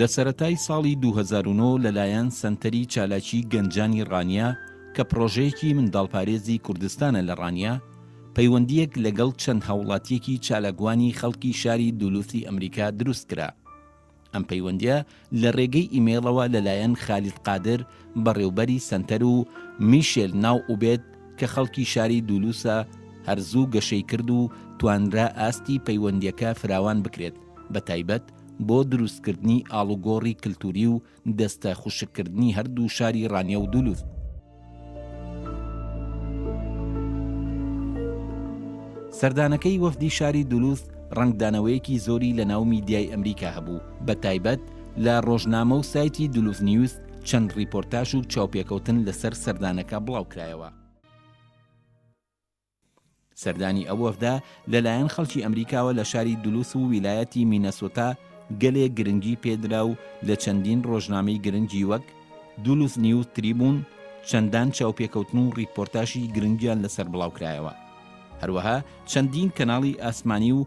لە سەرەتای ساڵی دوو هەزار و نۆ لەلایەن سەنتەری چالاکی گەنجانی ڕانیە کە پڕۆژەیەکی منداڵپارێزی کوردستانە لە ڕانیە، پەیوەندییەک لەگەڵ چەند هاوڵاتیەکی چالاکوانی خەڵکی شاری دولوثی ئەمریکا دروست کرا. ئەم پەیوەندیە لە رێگەی ئیمەیڵەوە لەلایەن خالید قادر بەڕێوبەری سەنتەر و میشێل ناو ئوبێد کە خەڵکی شاری دولوسە هەر زوو گەشەی کرد و توانرا ئاستی پەیوەندیەکە فراوان بکرێت بە تایبەت بۆ دروستکردنی ئاڵوگۆڕی کلتوری و دەستە خوشککردنی هەردوو شاری رانیە و دولوس. سەردانەکەی وەفدی شاری دولوز ڕەنگدانەوەیەکی زۆری لە ناو میدیای ئەمریکا هەبوو بە تایبەت لە ڕۆژنامە و سایتی دولوز نیوز چەند ڕیپۆرتاش و چاوپێکەوتن لەسەر سەردانەکە بڵاوکرایەوە. سەردانی ئەو وەفدە لەلایەن خەڵکی ئەمریکاوە لە شاری دولوس و ویلایەتی مینەسۆتا گەلێ گرنگی پێدرا و لە چەندین ڕۆژنامەی گرنگی وەک دولوس نیوز تریبون چەندان چاوپێکەوتن و ڕیپۆرتاژی گرنگیان لەسەر بڵاوکرایەوە. هەروەها چەندین کەناڵی ئاسمانی و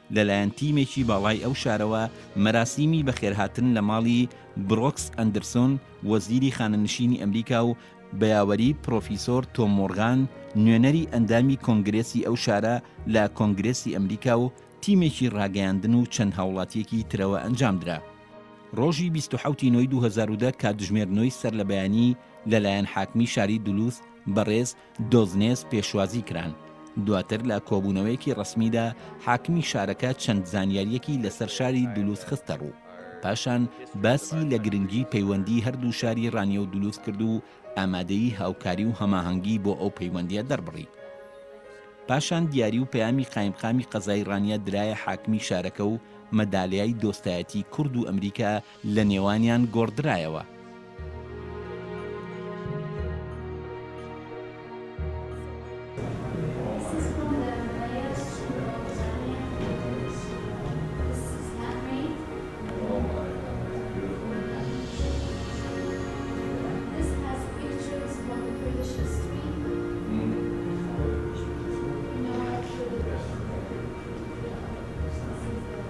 لەلایەن تیمێکی باڵای ئەو شارەوە مەراسیمی بەخێرهاتن لە ماڵی برۆکس ئەندرسۆن وەزیری خانەنشینی ئەمریکا و بەیاوەری پرۆفیسۆر تۆم مۆڕغان نوێنەری ئەندامی کۆنگرێسی ئەو شارە لە کۆنگرێسی ئەمریکا و تیمێکی ڕاگەیاندن و چەند هاوڵاتیەکی ترەوە ئەنجامدرا. ڕۆژی بیست و حەوت ی نۆی دوو هەزار و دە کاتژمێر نۆی سەرلەبەیانی لەلایەن حاکمی شاری دولوث بەڕێز، دۆزنێس پێشوازی کران. دواتر لە کۆبوونەوەیەکی ڕەسمیدا حاکمی شارەکە چەند زانیارییەکی لەسەر شاری دولوس خستە ڕوو. پاشان باسی لە گرنگی پەیوەندی هەردوو شاری ڕانیە و دولوس کرد و ئامادەیی هاوکاری و هەماهەنگی بۆ ئەو پەیوەندییە دەربڕی. پاشان دیاری و پەیامی قایمقامی قەزای ڕانیە درایە حاکمی شارەکە و مەدالیای دۆستایەتی کورد و ئەمریکا لە نێوانیان گۆڕدرایەوە.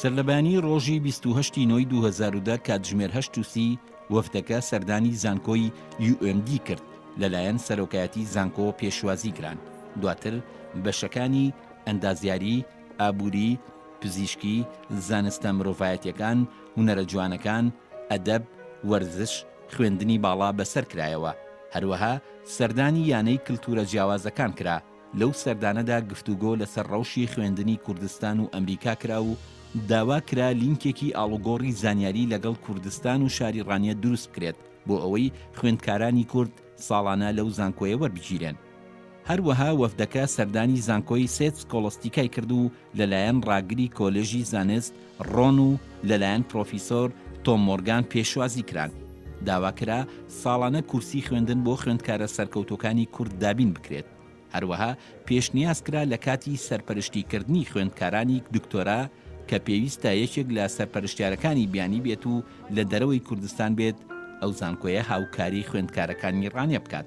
سەرلەبەیانیی ڕۆژی بیست و هەشت ی نۆی دوو هەزار و دە کاتژمێر هەشت و سی وەفدەکە سەردانی زانکۆی UMD کرد لەلایەن سەرۆکایەتی زانکۆ پێشوازی کران دواتر بەشەکانی، ئەندازیاری، ئابووری، پزیشکی، زانستە مرۆڤایەتیەکان، هونەرە جوانەکان، ئەدەب، وەرزش، خوێندنی باڵا بەسەر کرایەوە، هەروەها سەردانی یانەی کلتورە جیاوازەکان کرا، لەو سەردانەدا گفتوگۆ لەسەر ڕەوشی خوێندنی کوردستان و ئەمریکا کرا و داوا کرا لینکێکی ئاڵوگۆڕی زانیاری لەگەڵ کوردستان و شاری ڕانیە دروست بکرێت بۆ ئەوەی خوێندکارانی کورد ساڵانە لەو زانکۆیە وەربگیرێن. هەروەها وەفدەکە سەردانی زانکۆی سێت سکۆڵەستیکای کرد و لەلایەن ڕاگری کۆلێژی زانست ڕۆن و لەلایەن پرۆفیسۆر تۆم مۆرگان پێشوازی کران. داوا کرا ساڵانە کورسی خوێندن بۆ خوێندکارە سەرکەوتووەکانی کورد دابین بکرێت. هەروەها پێشنیاز کرا لە کاتی سەرپەرشتیکردنی خوێندکارانی دکتۆرا کە پێویستە یەکێک لە سەرپەرشتیارەکانی بیانی بێت و لە دەرەوەی کوردستان بێت ئەو زانکۆیە هاوکاری خوێندکارەکانی ڕانێ بکات.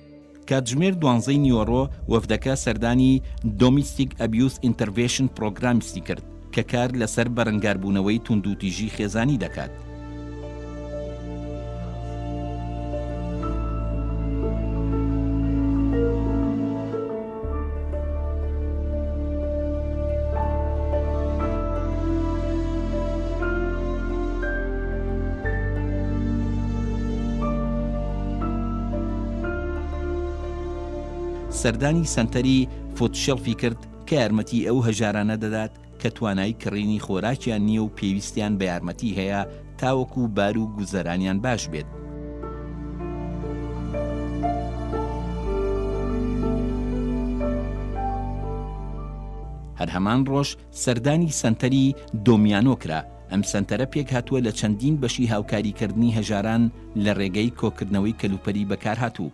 کاتژمێر دوانزەی نیوەڕۆ وەفدەکە سەردانی Domestic Abuse Intervetion Programmesی کرد کە کار لەسەر بەرەنگاربوونەوەی توندوتیژی خێزانی دەکات. سەردانی سەنتەری فوتشێڵفی کرد کە یارمەتی ئەو هەژارانە دەدات کە توانای کڕینی خۆراکیان نییە و پێویستیان بە یارمەتی هەیە تاوەکو بار و گوزەرانیان باش بێت. هەر هەمان ڕۆژ سەردانی سەنتەری، دۆمیانۆ، کرا، ئەم سەنتەرە پێکهاتووە لە چەندین بەشی هاوکاریکردنی هەژاران لە ڕێگەی کۆکردنەوەی کەلوپەلی بەکارهاتوو،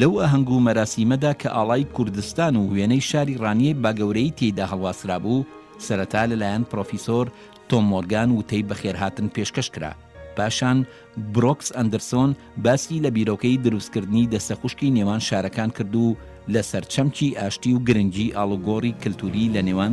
لەو ئاهەنگ و مەراسیمەدا کە ئاڵای کوردستان و وێنەی شاری ڕانیەی باگەورەیی تێیدا هەڵواسرابوو، سەرەتا لەلایەن پڕۆفیسۆر تۆم مۆرگان وتەی بەخێرهاتن پێشکەش کرا، پاشان برۆکس ئەندرسۆن باسی لە بیرۆکەی دروستکردنی دەستە خوشکی نێوان شارەکان کرد و لەسەر چەمکی ئاشتی و گرنگی ئاڵوگۆڕی کلتوری لەنێوان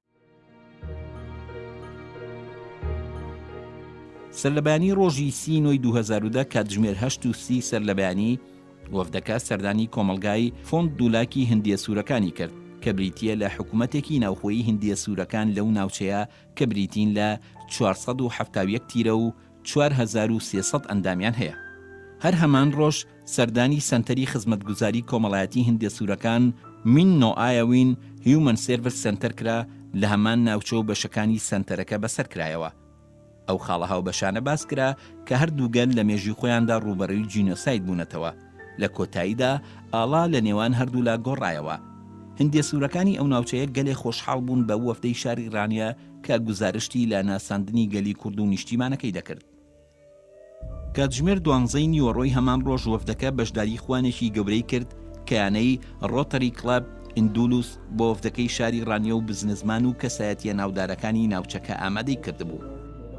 سەرلەبەیانیی ڕۆژی سی ی نۆی دوو هەزار و دە کاتژمێر هەشت و سی سەرلەبەیانی وەفدەکە سەردانی کۆمەڵگای فۆند دوولاکی هندییە سوورەکانی کرد کە بریتییە لە حکومەتێکی ناوخۆیی هندییە سوورەکان لەو ناوچەیە کە بریتین لە چوار سەد و حەفتا و یەک تیرە و چوار هەزار و سێ سەد ئەندامیان هەیە. هەر هەمان ڕۆژ سەردانی سەنتەری خزمەتگوزاری کۆمەڵایەتی هندێ سوورەکان، مین نۆئایەوین هیومەن سێرڤس سەنتەر کرا لە هەمان ناوچە و بەشەکانی سەنتەرەکە بەسەر کرایەوە. ئەو خاڵە هاوبەشانە باس کرا کە هەردوو گەل لە مێژووی خۆیاندا ڕووبەڕووی جینۆساید بوونەتەوە. لە کۆتاییدا ئاڵا لە نێوان هەردوولا گۆڕایەوە. هندێ سوورەکانی ئەو ناوچەیە گەلێ خۆشحاڵ بوون بەو وەفدەی شاری ڕانیە، کە گوزارشتی لە ناساندنی گەلی کورد و نیشتیمانەکەی دەکرد. کاتژمێر دوانزەی نیوەڕۆی هەمان ڕۆژ وەفدەکە بەشداری خوانێکی گەورەی کرد کە یانەی ڕۆتەری کڵەب ئیندولوس بۆ وەفدەکەی شاری ڕانیە و بزنسمان و کەسایەتییە ناودارەکانی ناوچەکە ئامادەی کردبوو.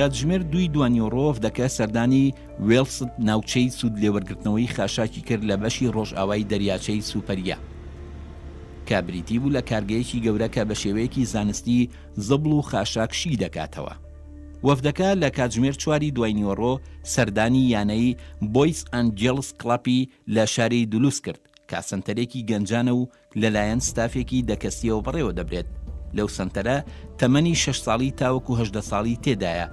کاتژمێر دووی دوانیۆڕۆڤ دەکە سەردانی وێڵست ناوچەی سوود لێوەرگرتنەوەی خاشاکی کرد لە بەشی ڕۆژئاوای دەریاچەی سوپەریا کە بریتی بوو لە کارگەیەکی گەورە کە بە شێوەیەکی زانستی زەبڵ و خاشاکشی دەکاتەوە وەفدەکە لە کاتژمێر چواری دوای نیوەڕۆ سەردانی یانەی بۆیس ئانجێڵس کڵەپی لە شاری دولوس کرد، کە سەنتەرێکی گەنجانە و لەلایەن ستافێکی دە کەسییەوە بەڕێوەدەبرێت، لەو سەنتەرە تەمەنی شەش ساڵی تاوەکو هەژدە ساڵی تێدایە،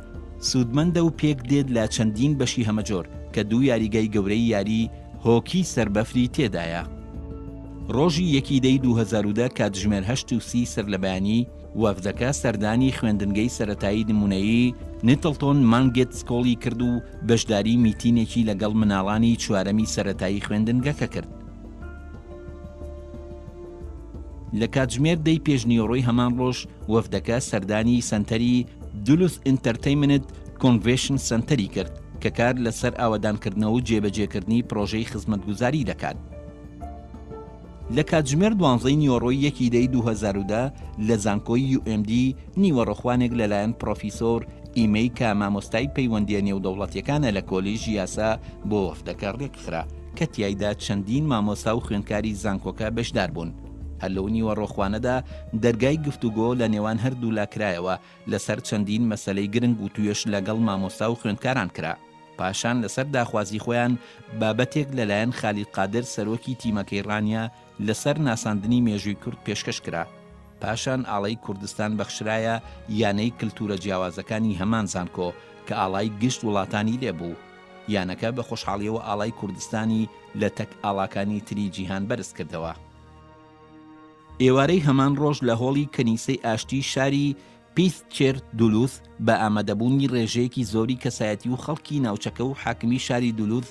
سوودمەندە و پێکدێت لە چەندین بەشی هەمەجۆر، کە دوو یاریگای گەورەی یاری هۆکی سەر بەفری تێدایە. ڕۆژی یەکی دەی دوو هەزار و دە کاتژمێر هەشت و سی سەرلەبەیانی، وەفدەکە سەردانی خوێندنگەی سەرەتایی نموونەیی Nettleton Mangett School ی کرد و بەشداری میتینێکی لەگەڵ مناڵانی چوارەمی سەرەتایی خوێندنگەکە کرد. لە کاتژمێر دەی پێشنیوەڕۆی هەمان ڕۆژ، وەفدەکە سەردانی سەنتەری Duluth Entertainment Convetion Center ی کرد، کە کار لەسەر ئاوەدانکردنەوە و جێبەجێکردنی پڕۆژەی خزمەتگوزاری دەکات. لە کاتژمێر دوانزەی نیوەڕۆی یەکی دەی دوو هەزار و دە لە زانکۆی یو ئێم دی، نیوەڕۆخوانێک لەلایەن پڕۆفیسۆر ئیمەی کە مامۆستای پەیوەندییە نێودەوڵەتییەکانە لە کۆلیژی یاسا بۆ وەفدەکە رێکخرا، کە تیایدا چەندین مامۆستا و خوێندکاری زانکۆکە بەشداربوون. هەر لەو نیوەڕۆخوانەدا دەرگای گفتوگۆ لە نێوان هەردوولا کرایەوە، لەسەر چەندین مەسەلەی گرنگ وتوێژ لەگەڵ مامۆستا و خوێندکاران کرا، پاشان لەسەر داخوازی خۆیان بابەتێک لەلایەن خالید قادر سەرۆکی تیمەکەی ڕانیە لەسەر ناساندنی مێژووی کورد پێشکەش کرا، پاشان ئاڵای کوردستان بەخشرایە یانەی کلتوورە جیاوازەکانی هەمان زانکۆ کە ئاڵای گشت وڵاتانی لێ بوو، یانەکە بە خۆشحاڵیەوە ئاڵای کوردستانی لە تەک ئاڵاکانی تری جیهان بەرز کردەوە. ئێوارەی هەمان ڕۆژ لە هۆڵی کەنیسەی ئاشتی شاری پیست چێرت دولوز بە ئامادەبوونی ڕێژەیەکی زۆری کەسایەتی و خەڵکی ناوچەکە و حاکمی شاری دولوز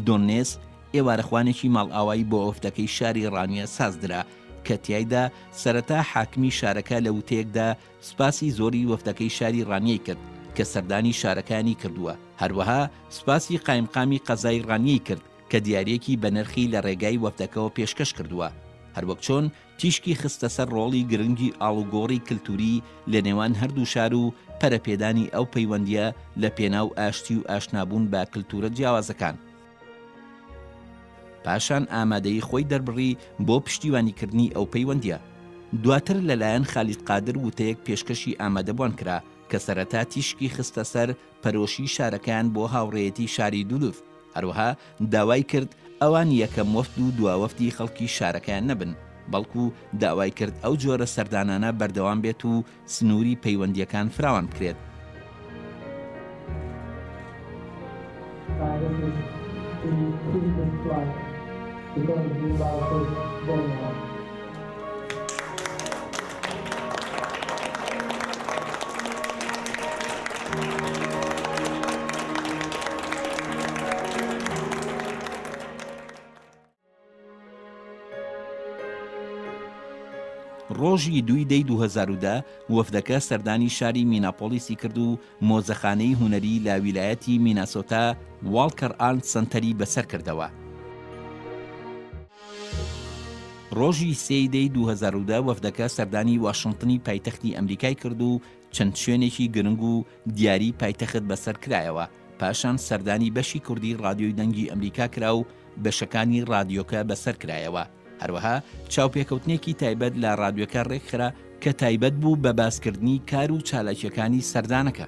دۆننێس ئێوارەخوانێکی ماڵئاوایی بۆ ئۆفدەکەی شاری ڕانیە سازدرا کە تیایدا سەرەتا حاکمی شارەکە لە وتەیەکدا سوپاسی زۆری وەفدەکەی شاری ڕانیەی کرد کە سەردانی شارەکانی کردووە هەروەها سوپاسی قایمقامی قەزای ڕانیەی کرد کە دیاریەکی بەنرخی لە ڕێگای وەفدەکەوە پێشکەش کردووە، هەروەک چۆن تیشکی خستە سەر ڕۆڵی گرنگی ئاڵوگۆڕی کلتوری لە نێوان هەردوو شار و پەرەپێدانی ئەو پەیوەندیە لە پێناو ئاشتی و ئاشنابوون بە کلتورە جیاوازەکان. پاشان ئامادەیی خۆی دەربڕی بۆ پشتیوانی کردنی ئەو پەیوەندیە. دواتر لە لایەن خالید قادر وتەیەک پێشکەشی ئامادەبوان کرا کە سەرەتا تیشکی خستە سەر پەرۆشی شارەکەیان بۆ هاوڕێیەتی شاری دولوز، هەروەها داوای کرد ئەوان یەکەم وەفد و دواوەفدی خەڵکی شارەکەیان نەبن، بەڵکو داوای کرد ئەو جۆرە سەردانانە بەردەوام بێت و سنووری پەیوەندییەکان فراوان بکرێت. ڕۆژی دووی دەی دوو هەزار و دە وەفدەکە سەردانی شاری میناپۆڵیسی کرد و مۆزەخانەی هونەری لە ویلایەتی میناسۆتا واڵکەر ئارنت سەنتەری بەسەر کردەوە. ڕۆژی سێ ی دەی دوو هەزار و دە وەفدەکە سەردانی واشنتنی پایتەختی ئەمریکای کرد و چەند شوێنێکی گرنگ و دیاری پایتەخت بەسەر کرایەوە، پاشان سەردانی بەشی کوردی ڕادیۆی دەنگی ئەمریکا کرا و بەشەکانی ڕادیۆکە بەسەر کرایەوە، هەروەها چاوپێکەوتنێکی تایبەت لە ڕادیۆکە ڕێکخرا کە تایبەت بوو بە باسکردنی کار و چالاکییەکانی سەردانەکە.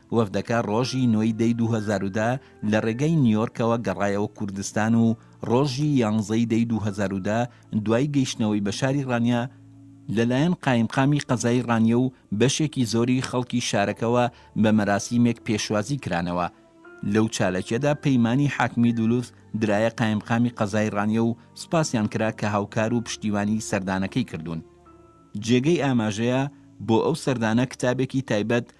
وەفدەکە ڕۆژی نۆ ی دەی دوو هەزار و دە لە ڕێگای نیۆرکەوە گەڕایەوە کوردستان و ڕۆژی یانزە ی دەی دوو هەزار و دە دوای گەیشتنەوەی بە شاری ڕانیە لەلایەن قایمقامی قەزای ڕانیە و بەشێکی زۆری خەڵکی شارەکەوە بە مەراسیمێک پێشوازی کرانەوە لەو چالاکیەدا پەیمانی حاکمی دولوس درایە قایمقامی قەزای ڕانیە و سوپاسیان کرا کە هاوکار و پشتیوانی سەردانەکەی کردوون. جێگەی ئاماژەیە بۆ ئەو سەردانە کتابێکی تایبەت